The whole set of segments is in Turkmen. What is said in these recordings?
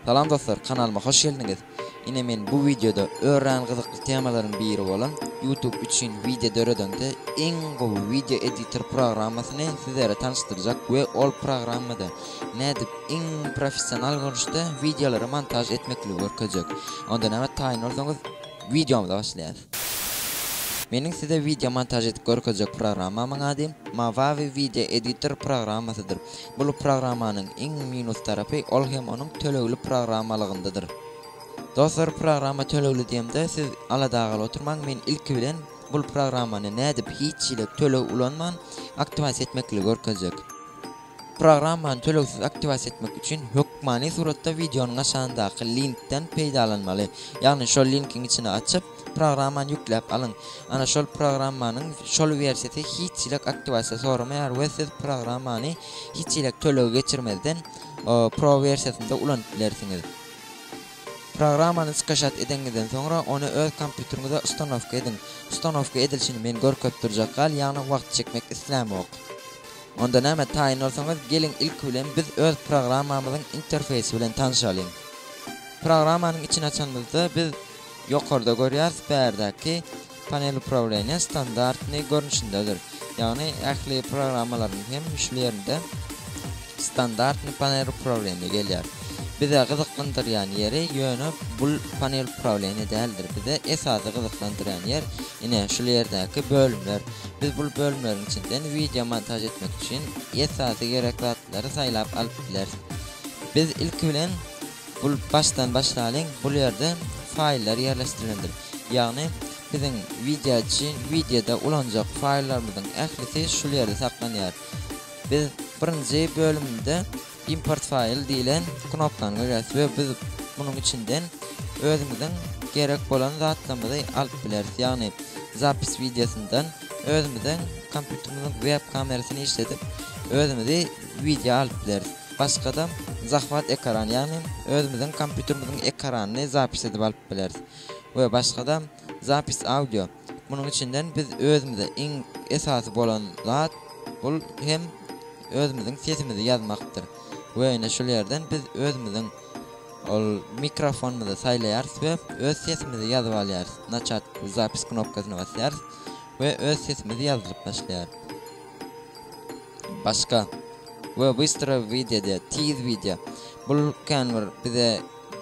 Salam dostlar, kanalyma hoş geldiňiz. Ine men bu videoda örän gyzykly temalaryň biri bolan YouTube üçin video döredende iň gowy video editor programmasyny sizlere tanıştyrjak we ol programmada nädip iň professional görnüşde wideolary montaž etmekligi görkezjek. Onda näme taýyn bolsaňyz wideomyza başlaýas. Meniň size wideo montaž edip görkezjek programmamyň ady Movavi Video Editor programmasydyr. Bul programmanyň iň minus tarapy ol hem onuň tölegli programmalygyndadyr. Dostlar programma tölegli diýemde siz aladagaly oturmaň men ilki bilen bul programmany nädip hiç hili töleg ulanman aktiwasiýa etmekligi görkezjek. Programmany tölegsiz aktiwasiýa etmek üçin hökmany suratda wideonyň aşagyndaky linkden peýdalanmaly. Ýagny şol linkiň içini açyp, programmany ýükläp alyň. Ana şol programmanyň şol wersiýasy hiç hileg aktiwasiýa soramaýar we siz programmany hiç hileg tölegi geçirmezden Pro wersiýasynda ulanyp bilersiňiz. Programmany skaşat edeňizden soňra ony öz kompýuteriňize ustanowka ediň. Ustanowka edilişini men görkezip durjak gal, ýagny wagt çekmek islämok. Onda näme, taýyn bolsaňyz, geliň ilki bilen biz öz programmamyzyň interfeýsi bilen tanşalyň. Programmanyň içini açanymyzda biz ýokarda görýäris, bärdäki Panel uprawilenýa standartnyý görnüşindedir. Ýagny ähli programmalaryň hem müşli ýerinde Standartnyý panel uprawilenýa gelýär. Bize gyzyklandyrýan ýeri ýöne bul panel uprawilenýa däldir. Bize esasy gyzyklandyrýan ýer Ine, şul ýerdäki bölümler. Biz bul bölümleriň içinden wideo montaž etmek üçin esasy gerek zatlary saýlap alyp bileris. Biz ilki bilen bul başdan başlalyň, bul ýerde faýllar ýerleşdirilendir. Ýagny biziň wideo üçin wideoda ulanjak faýllarymyzyň ählisi şul ýerde saklanýar. Biz birinji bölümde Import file diýlen knopkanyňy bes we biz munuň içinden özümiziň gerek bolan zatlarymyzy alyp bileris. Ýagny zapis wideosyndan özümiziň kompýuterimiziň web kamerasyny işledip özümizi wideo alyp bileris. Başgada zahwat ekrany ýagny özümiziň kompýuterimiziň ekranyny zapis edip alyp bileris we başgada zapis audio. Munuň içinden biz özümize iň esasy bolan zat bul hem özümiziň sesimizi ýazmakdyr we ine şul ýerden biz özümiziň ol mikrofonymyzy saýlaýarys we öz sesimizi ýazyp alýarys. Naçat zapis knopkasyna basýarys we öz sesimiz ýazylyp başlaýar. Başga we bystra wideo diýýär, tiz wideo. Bul kän bir bize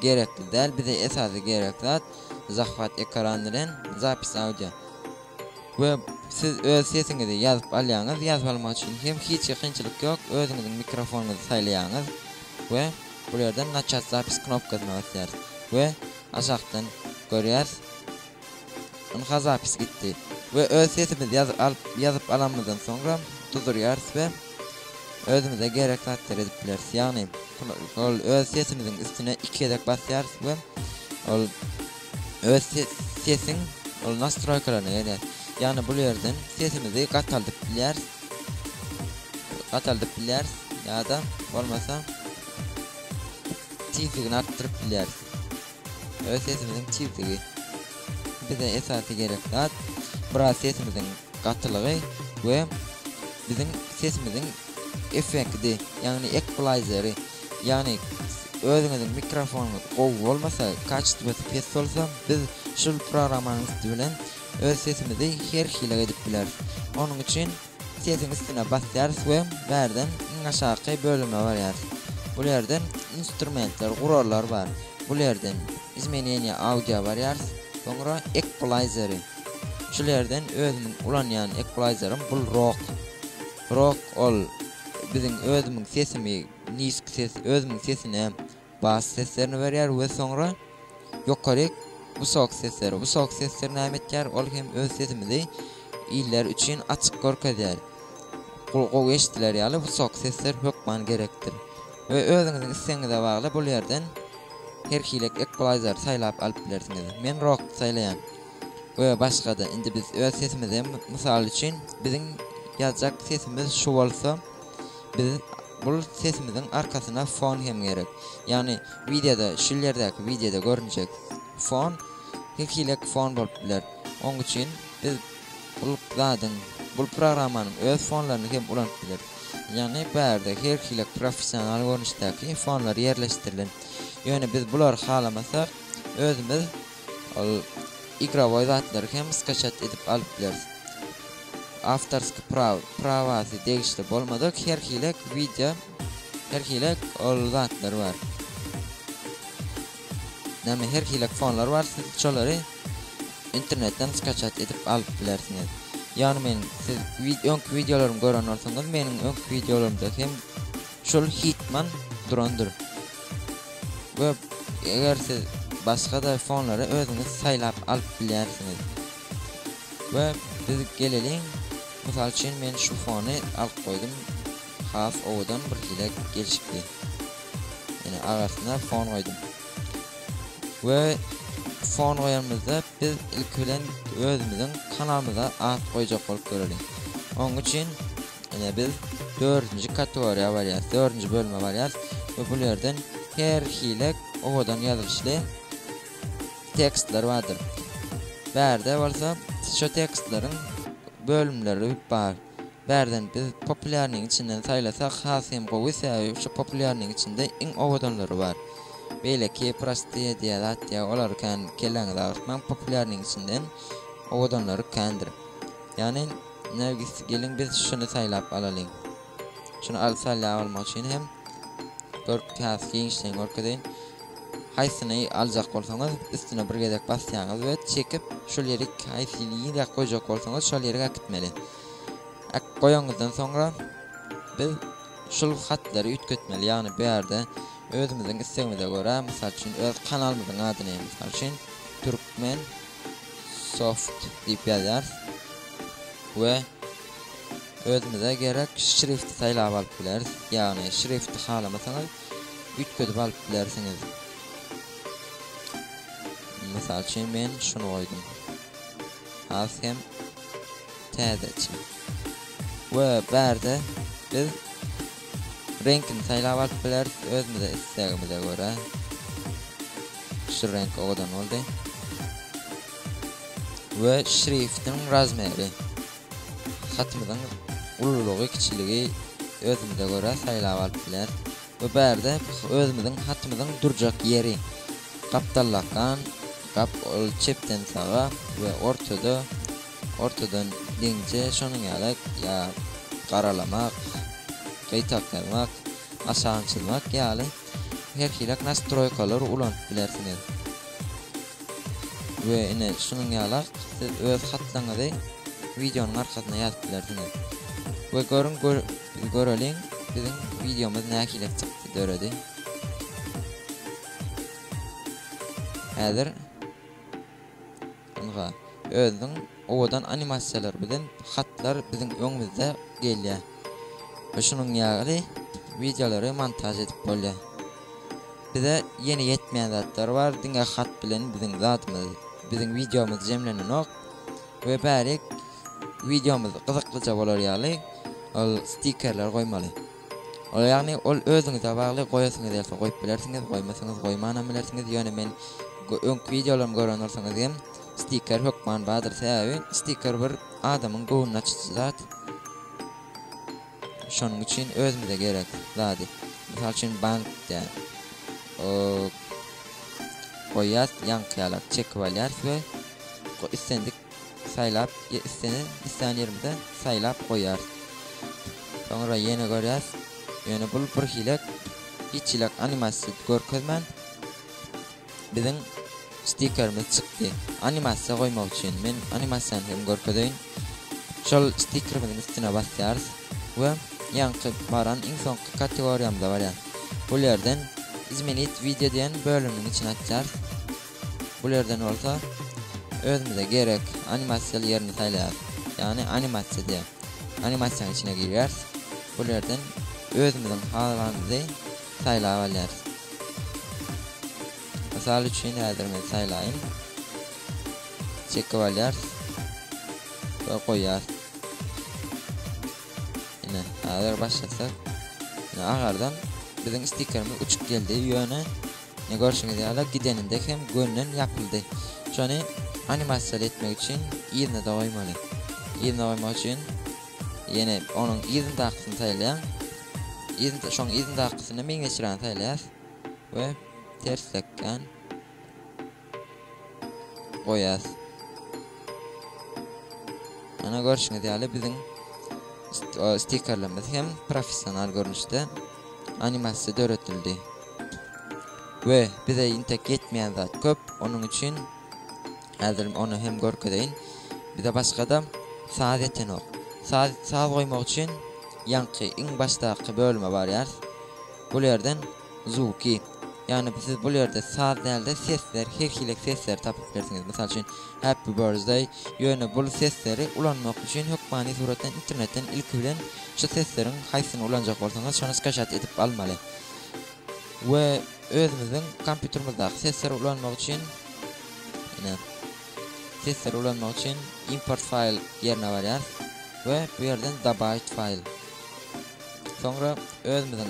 Gerekli däl bize esasy gerek zat zahwat ekran bilen zapis audio we siz öz sesiňizi ýazyp alýaňyz ýazyp almak üçin hem hiç hili kynçylyk ýok özüňiziň mikrofonyňyzy saýlaýaňyz we bu ýerden naçat zapis knopkasyna basýarys we aşakdan görýäs Ynha zapis gitdi. We öz sesimiz ýazyp alyp ýazyp alanymyzdan soňra duzurýarys we özümize gerek zatlar edip bileris. Ýagny ol öz sesimiziň üstüne iki gezek basýarys we ol öz sesiň ol nastroýkalaryna gelýär. Ýagny bul ýerden sesimizi gataldyp bilýäris. Gataldyp bilýäris ýa-da bolmasa tizligini artdyryp bilýäris. Öz sesimiziň tizligi bize esasy gerek zat. Biraz sesimiziň gatylygy we biziň sesimiziň effekti, ýagny ekplaýzeri. Ýagny özüňiziň mikrofonyňyz gowy bolmasa, kaçestwasy pes bolsa, biz şul programmanyň üsti bilen öz sesimizi her hili edip bileris. Onuň üçin Setiň üstüne basýarys we bärden iň aşaky bölüme barýarys. Bul ýerde instrumentler, gurallar bar. Bul ýerden Izmeneniýa audio barýarys. Soňra Ekulaýzeri. Şul ýerden özümiň ulanýan ekulaýzerim bul Rok. Rok ol biziň özümiň sesimi, nisk ses, özümiň sesine, Bas seslerini berýär we soňra ýokaryk wysok sesleri. Wysok sesler näme etýär? Ol hem öz sesimizi illeri üçin açyk görkezýär. Gul gowy eşidiler ýaly wysok sesler hökman gerekdir. We özüňiziň islegiňize bagly bul ýerden her hilek ekulaýzer saýlap alyp bilersiňiz. Men rok saýlaýan. We başgada indi biz öz sesimizi hem mysal üçin biziň ýazjak sesimiz şu bolsa. Biz bul sesimiziň arkasyna fon hem gerek. Ýagny wideoda şul ýerdäki wideoda görünjek fon her hilek fon bolup biler. Oň üçin biz bul zadyň bul programmanyň öz fonlaryny hem ulanyp bileris. Ýagny bu ýerde her hilek professional görnüşdäki fonlar ýerleşdirilen. Ýöne biz bulary halamasak özümiz Ol igrowoý zatlary hem skaçat edip alyp bileris. Awtorsk praw, prawasy degişli bolmadyk her hilek wideo, her hilek ol zatlar bar. Näme her hilek fonlar bar siz şolary internetden skaçat edip alyp bilersiňiz. Ýagny men siz wid öňki wideolarymy gören bolsaňyz meniň öňki wideolarymda hem şol hitman durandyr. we eger siz başga-da fonlary özüňiz saýlap alyp bilýärsiňiz. We biz geleliň, mysal üçin men şu fony alyp goýdum, has owadan bir hile gelişipdi. Ýöne arasyna fon goýdum. We fon goýanymyzda biz ilki bilen özümiziň kanalymyza at goýjak bolup göreliň. Onuň üçin Ine biz dördünji kategoriýa barýas, dördünji bölüme barýas we bul ýerden her hili owadan ýazylyşly tekstler bardyr. Bärde bolsa şu tekstleriň bölümleri bar. Bärden biz populýarnyň içinden saýlasak has hem gowy, sebäbi şu populýarnyň içinde iň owadanlary bar. Beýleki prostiýe diýen zat ýa olary kän kelläňizi agyrtmaň, populýarnyň içinden owadanlary kändir. Ýagny Nergis geliň biz şuny saýlap alalyň. Şuny al sal ýag almak üçin hem görüp has giňişleýin görkezeýin. Haýsyny aljak bolsaňyz üstüne bir gezek basýaňyz we çekip şol ýeri haýsy ýere goýjak bolsaňyz şol ýere äkitmeli. Ak goýanyňyzdan soňra biz şul hatlary üýtgetmeli ýagny bu ýerde özümiziň islegimize görä mysal üçin öz kanalymyzyň adyny mysal üçin türkmen Soft diýip ýazýarys we özümize gerek şrifti saýlap alyp bileris, ýagny şrifti halamasaňyz üýtgedip alyp bilersiňiz. Mysal üçin men şuny goýdum. Az hem täzeçe. We bärde biz Reňkini saýlap alyp bileris özümize islegimize görä. Şu reňk owadan boldy. We şriftiň razmeri. Hatymyzyň ululygy, kiçiligi özümize görä saýlap alyp bileris. We bärde özümiziň hatymyzyň durjak ýeri. Gapdallakan gap ol çepden saga we ortada Ortadan deňze şonuň ýaly ýa garalamak, gytaklamak, aşagyntylmak ýaly her hili nastroýkalary ulanyp bilersiňiz. We ine şunuň ýaly siz öz hatlaňyzy wideonyň arkasyna ýazyp bilersiňiz. We görüň göreliň biziň wideomyz nähili çykdy döredi. Häzir Ynha, özüniň owadan animasiýalary bilen hatlar biziň öňümizde gelýär we şunuň ýaly wideolary montaž edip bolýar. Bize ýene ýetmeýän zatlar bar, diňe hat bilen biziň zadymyz, biziň wideomyz jemlenenok we bärik wideomyz gyzyklyja bolar ýaly ol stikerler goýmaly. Ol ýagny, ol özüňize bagly, goýasyňyz gelse goýup bilersiňiz, goýmasaňyz goýmanam bilersiňiz, ýöne men öňki wideolarymy gören bolsaňyz hem stiker hökman bardyr, sebäbi stiker bir adamyň göwnüni açyjy zat, şonuň üçin özümize gerek zady, mysal üçin bank däl, goýýas, ýaňky ýalak çekip alýarys we islendik Saýlap islenen islän ýerimizden saýlap goýýarys. Soňra ýene görýäs. Ýöne bul birhilek hiç hili animasiýa görkezmän biziň stikerimiz çykdy. Animasiýa goýmak üçin men animasiýany hem görkezeýin. Şol stikerimiziň üstüne basýarys we ýaňky baran iň soňky kategoriýamyza barýarys. Bul ýerden Izmenit wideo diýen bölüminiň içine atýarys. Bul ýerden bolsa özümize gerek animasiýaly ýerini saýlaýarys. Ýagny animasiýa diýen animasiýanyň içine girýäris. Bul ýerden özümiziň halanymyzy saýlap alýarys. Mysal üçin häzir men saýlaýyn. Çekip alýarys. We goýýarys. Ine, häzir başlasak. Ine agardan biziň stikerimiz uçup geldi. Ýöne Ine görşüňiz ýaly gideninde hem gönden ýapyldy. Şony animasiýaly etmek üçin yzyna-da goýmaly. Yzyna goýmak üçin ýene onuň yzyndakysyny saýlaýaň. Yzyn şoň yzyndakysyny meňzeşrägini saýlaýas we terslekkän. goýas. Ana görşüňiz ýaly biziň stikerlerimiz hem professional görnüşde animasiýa döredildi. We bize intek ýetmeýän zat köp, onuň üçin häzir ony hem görkezeýin. Bize başga-da saz ýetenok. Saz, saz goýmak üçin ýaňky iň başdaky bölüme barýarys. Bu ýerden Zuki. Ýagny siz bul ýerde saz däl-de sesler, her hili sesleri tapyp bilersiňiz. Mysal üçin, Happy Birthday, ýöne bul sesleri ulanmak üçin hökmany suratdan internetden ilki bilen şu sesleriň haýsysyny ulanjak bolsaňyz şony skaşat edip almaly. We özümiziň kompýutermizdaky sesleri ulanmak üçin ine sesleri ulanmak üçin import file ýerine barýarys we bu ýerden dobawit file. Soňra özümiziň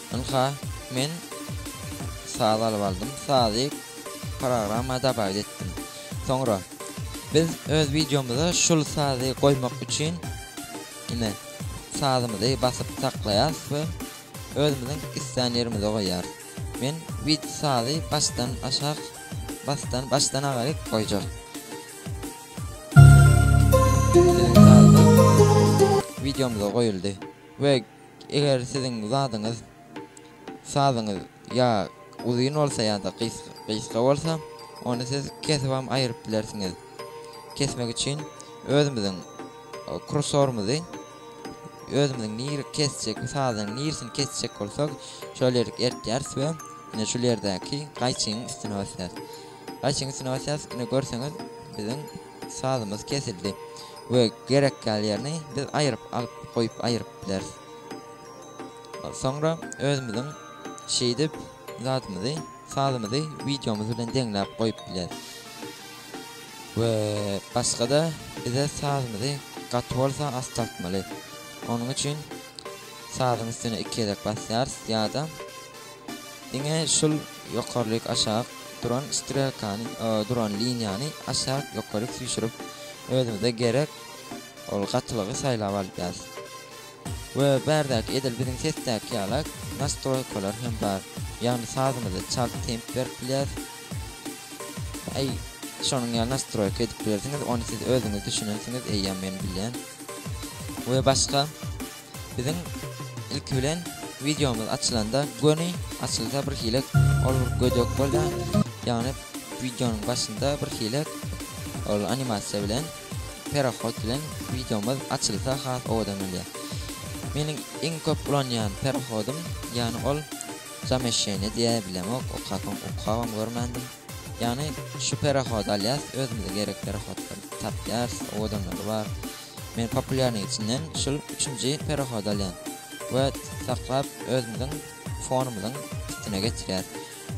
Ynha, men saz alyp aldym. Sazy programma dabaýt etdim. Soňra biz öz wideomyza şul sazy goýmak üçin ine sazymyzy basyp saklaýarys we özümiziň islän ýerimize goýýarys. Men wid sazy başdan aşak basdan başdan agaryk goýjak. Wideomyza goýuldy we Eger siziň zadyňyz, sazyňyz, ýa uzyn bolsa ýa-da gysga bolsa, ony siz kesibam aýryp bilersiňiz. Kesmek üçin özümiziň kursorymyzy, özümiziň nir kesjek sazyň nirsini kesjek bolsak, şol ýerik eltýäris we ine şul ýerdäki gaýçynyň üstüne basýas. Gaýçynyň üstüne basýas, ine görseňiz biziň Sazymyz kesildi we gerek ýaly ýerini biz aýryp alyp goýup aýryp bileris. Soňra özümiziň şeýdip zadymyzy sazymyzy wideomyz bilen deňläp goýup bileris. We başgada bize sazymyzy gaty bolsa astaltmaly. Onuň üçin sazyň üstüne iki gezek basýarys ýa-da Diňe şul ýokarlyk aşak duran strelkany duran liniýany aşak ýokary süýşürip özümize gerek ol gatylygy saýlap alýas. We bärdäki edil biziň sesdäki ýala nastroýkalar hem bar. Ýagny sazymyzy çalt temp berip bilýäs. Aý şonuň ýaly nastroýka edip bilersiňiz ony siz özüňiz düşünensiňiz eýýäm men bilýän. We başga. Biziň ilki bilen wideomyz açylanda göni açylsa bir hile ol gödek bolýar. Ýagny wideonyň başynda bir hile ol animasiýa bilen perahod bilen wideomyz açylsa has owadan bolýar. Meniň iň köp ulanýan perahodym ýagny ol zamesheniýa diýä bilemok okapam okabam görmändim. Ýagny şu perahody alýas özümize gerek perahodlary tapýas owadanlary bar. Men populýarnyň içinden şul üçünji perahody alýan. Wet saklap özümiziň fonumyzyň üstüne geçirýär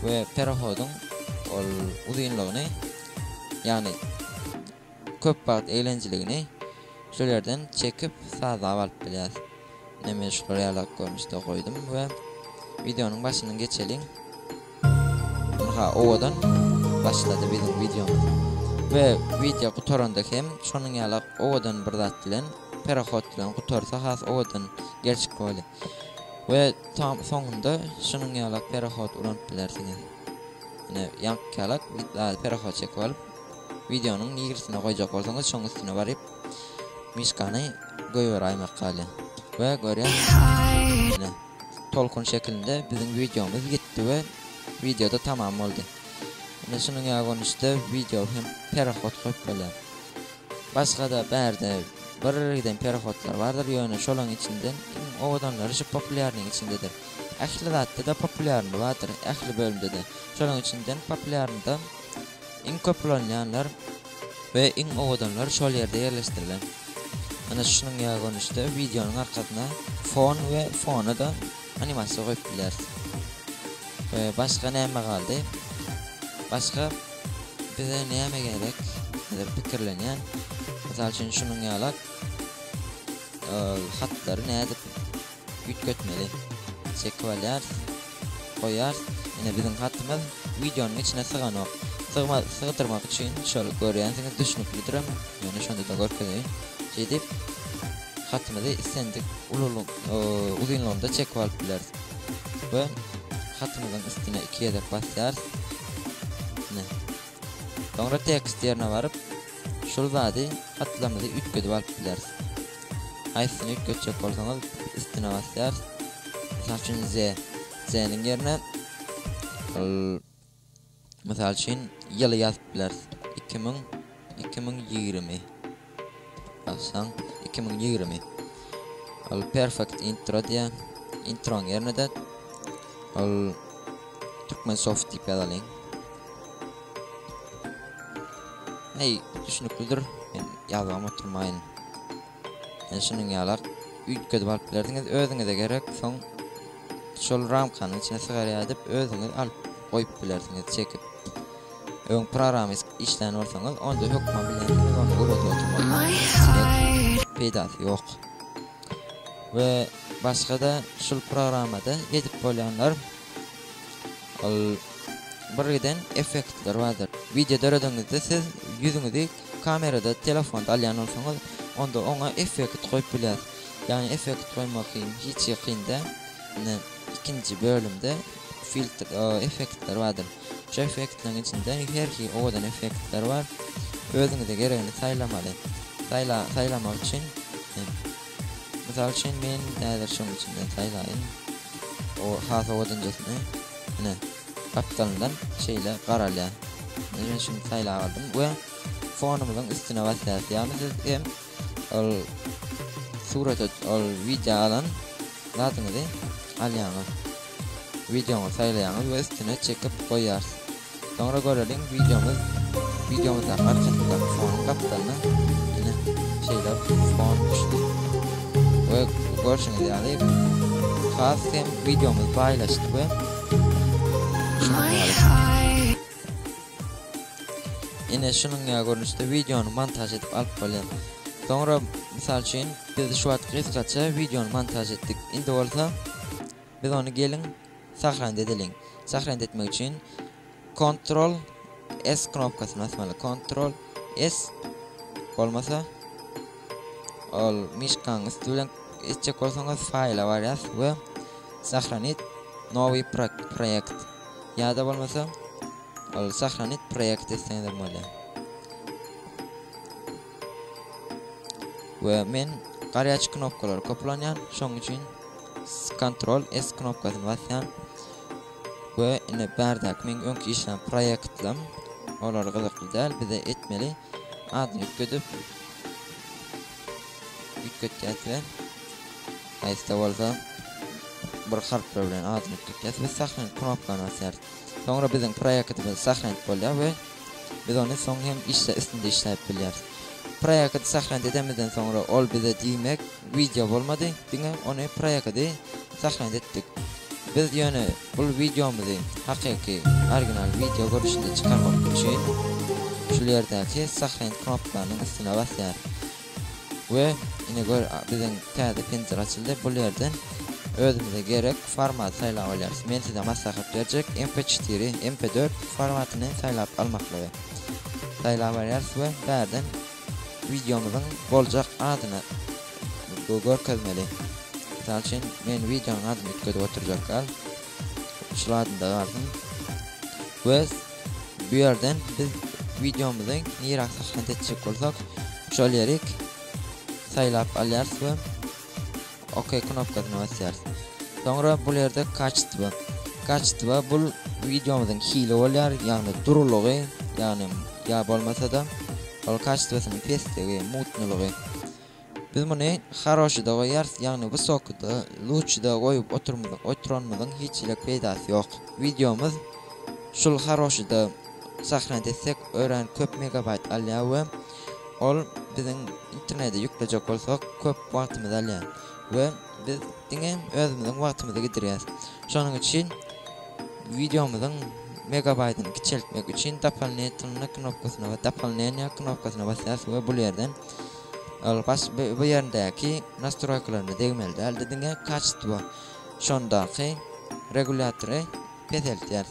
we perahodyň ol uzynlygyny ýagny köp wagt eglenjiligini şol ýerden çekip sazlap alyp bilýäs. Nemeşgur ýalak görnüşde goýdum we wideonyň başyny geçeliň. Ynha owadan başlady biziň wideomyz. We wideo gutaranda hem şonuň ýalak owadan bir zat bilen perahod bilen gutarsa has owadan gerçek boly. We tam soňunda şunuň ýalak perahod uranyp bilersiňiz. Ine ýaňky ýalak perahod çekip alyp wideonyň nigrisine goýjak bolsaňyz şoň üstüne baryp Miskany goýberaý makale. We görýän ine tolkun şekilinde biziň wideomyz gitdi we wideoda tamam boldy. Ine şunuň ýa görnüşde wideo hem perahod goýup bolýar. Başgada bärde bir giden perahodlar bardyr ýöne şolaň içinden iň owadanlary şu populýarnyň içindedir. Ähli zatda-da populýarny bardyr ähli bölümde-de. Şolaň içinden populýarnyda iň köp ulanylýanlar We iň owadanlar şol ýerde ýerleşdirilen. Ana şunuň ýaly görnüşde wideonyň arkasyna fon we fona-da animasiýa goýup bileris. We başga näme galdy? Başga bize näme gerek? Diýip pikirlenýän. Mysal üçin şunuň ýalak hatlary nädip Üýtgetmeli. Çekip alýarys. Goýýarys. Ine biziň hatymyz wideonyň içine syganok. Sygma sygdyrmak üçin şol görýänsiňiz düşnüklidirem. Ýöne şonda-da görkezeýin. Şeýdip hatymyzy islendik ululyk uzynlygynda çekip alyp bileris. We hatymyzyň üstüne iki gezek basýarys. Ine. Soňra tekst ýerine baryp, şul zady hatlamyzy üýtgedip alyp bileris. Haýsysyny üýtgetjek bolsaňyz üstüne basýarys. Mysal üçin ze, zeniň ýerine l, mysal üçin, ýyly ýazyp bileris. Iki müň, iki müň ýigrimi. Ýazsaň, iki müň ýigrimi. Ol perfect intro diýýär. Introň ýerine-de ol Türkmensoft diýip ýazalyň. Hey, düşüniklidir. Men ýazgam oturmaýyn. Men şunuň ýalak üýtgedip alyp bilerdiňiz. Özüňize gerek, soň şol ramkanyň içine sygarýar diýip, özüňiz alyp goýup bilersiňiz çekip. Öň programist işlän bolsaňyz onda hökman bilen siz ony öwredip oturmaly bolýarsyňyz. Peýdasy ýok. We başgada şul programmada edip bolýanlar ol birgiden effektler bardyr. Wideo döredeňizde siz ýüzüňizi kamerada telefonda alýan bolsaňyz onda oňa effekt goýup bilýäs. Ýagny effekt goýmak kyn hiç kyn däl. Ine ikinji bölümde Filtr effektler bardyr. Şu effektleriň içinde her hili owadan effektler bar. Özüňize geregini saýlamaly. Saýla saýlamak üçin mysal üçin men häzir şuň içinden saýlaýyn. O has owadanjasyny. Ine, gapdalyndan şeýle garalýar. Men şuny saýlap aldym we fonumyzyň üstüne basýarys. Ýagny siz hem ol surata ol wideo alan zadyňyzy alýaňyz. Wideoňyzy saýlaýaňyz we üstüne çekip goýýarys. Soňra göreliň wideomyz wideomyzdaky haryjatlyklar fonyň gapdalyna ine şeýle fon düşdi. We görşüňiz ýaly has hem wideomyz baýlaşdy we şunuň ýaly. Ine şunuň ýaly görnüşde wideony montaž edip alyp bolýar. Soňra mysal üçin biz şu wagt gysgaça wideony montaž etdik. Indi bolsa biz ony geliň sahranda edeliň. Sahranda etmek üçin Ctrl S knopkasyny basmaly. Ctrl S bolmasa ol mişkaň üstü bilen etjek bolsaňyz faýla barýas we sahranit nowy proýekt Ýa-da bolmasa ol sahranit proýekt etseňizem bolýar. We men garýaç knopkalary köp ulanýan, şoň üçin Ctrl S knopkasyny basýan. We indi bärdäki meň öňki işlän proýektlerim olar gyzykly däl, bize etmeli adyny üýtgedip üýtgetýäs we Haýsy-da bolsa bir harplar bilen adyny tutýas we Sahranit knopkany basýarys. Soňra biziň proýektimiz Sahranit bolýar we biz ony soň hem işle üstünde işläp bilýäris. Proýekti Sahranit edenimizden soňra ol bize diýmek wideo bolmady, diňe ony proýekti Sahranit etdik. Biz ýöne bul wideomyzy hakyky original wideo görnüşinde çykarmak üçin şul ýerdäki Sahranit knopkanyň üstüne basýarys. We ine gör biziň täze printer açyldy bul ýerden özümize gerek format saýlap alýarys. Men size maslahat berjek MP4 MP4 formatyny saýlap almaklygy. Saýlap alýarys we bärden wideomyzyň boljak adyny görkezmeli. Mysal üçin men wideonyň adyny üýtgedip oturjak gal. Şul adynda galsyn. We Bu ýerden biz wideomyzy nirä sahnat etjek bolsak, şol ýeri saýlap alýarys we OK knopkasyna basýarys. Soňra bu ýerde kaçtwa. Kaçtwa bu wideomyzyň hili bolýar, ýagny durulygy, ýagny ýa bolmasa-da ol kaçtwasynyň pesdigi, mutnylygy. Biz muny Haroşyda goýýarys, ýagny Wysokyda, Luçyda goýup oturanymyzyň hiç hili peýdasy ýok. Wideomyz şul Haroşyda sahna etsek örän köp megabaýt alýar we ol biziň internede ýüklejek bolsak köp wagtymyzy alýar we biz diňe özümiziň wagtymyzy gidirýäs. Şonuň üçin wideomyzyň megabaýtyny kiçeltmek üçin Dopollnitnna knopkasyna we Dopollneniýa knopkasyna basýarys we bul ýerden Ol baş bu ýerindäki nastroýkalaryna degmeli däldi diňe kaçtwo şondaky regulýatory peseltýär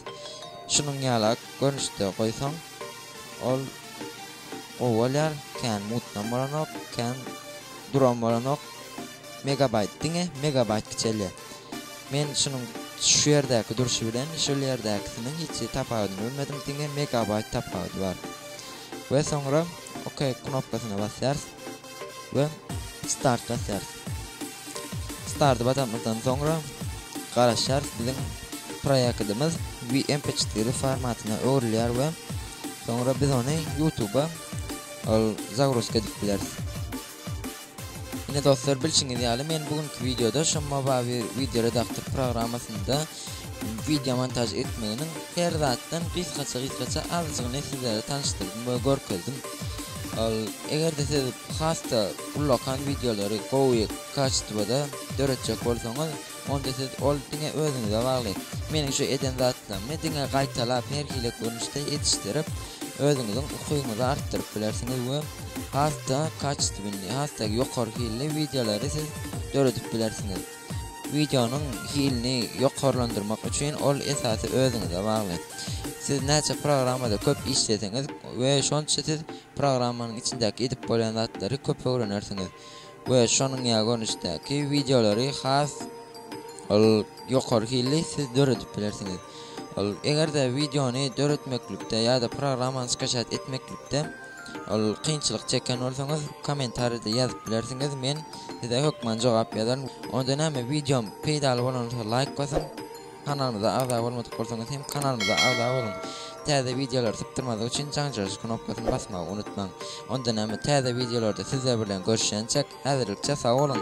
şunuň ýala görnüşde goýsaň ol gowy bolýar kän mutnam bolanok kän duram bolanok megabaýt diňe megabaýt kiçelýär men şunuň şu ýerdäki durşy bilen şol ýerdäkisiniň hiç tapawudyny bilmedim diňe megabaýt tapawudy bar we soňra OK knopkasyna basýarys we Start basýarys. Start basamyzdan soňra garaşýarys biziň proýektimiz VMP4 formatyna öwrülýär we soňra biz ony YouTube-a ol zagruzka edip bileris. Ine dostlar bilşiňiz ýaly men bu günki wideoda şu Movavi video redaktor programmasynda video montaž etmeginiň her zatdan gysgaça gysgaça azjygyny sizlere tanyşdyrdym we görkezdim. Ol eger-de siz has-da ullakan videolary gowy kaçtwada döretjek bolsaňyz onda siz ol diňe özüňize bagly. Meniň şu eden zatlarymy diňe gaýtalap her hili görnüşde ýetişdirip, özüňiziň ukyňyzy artdyryp bilersiňiz we has-da kaçestwinli, has-da ýokary hilli wideolary siz döredip bilersiňiz. Wideonyň hilini ýokarlandyrmak üçin ol esasy özüňize bagly. Siz näçe programmada köp işleseňiz we şonça siz programmanyň içindäki edip bolýan zatlary köp öwrenersiňiz. we şonuň ýa görnüşdäki wideolary has ol ýokary hilli siz döredip bilersiňiz. Ol eger-de wideony döretmeklikde ýa-da programmany skaçat etmeklikde ol kynçylyk çeken bolsaňyz kommentariýada ýazyp bilersiňiz men size hökman jogap ýazaryn. Onda näme wideom peýdaly bolansa laýk basyň. Kanalymyza agza bolmadyk bolsaňyz hem kanalymyza agza boluň. Täze wideolary sypdyrmazlyk üçin jaňjaryş knopkasyny basmagy unutmaň. Onda näme täze wideolarda sizler bilen görüşýänçäk häzirlikçe sag boluň.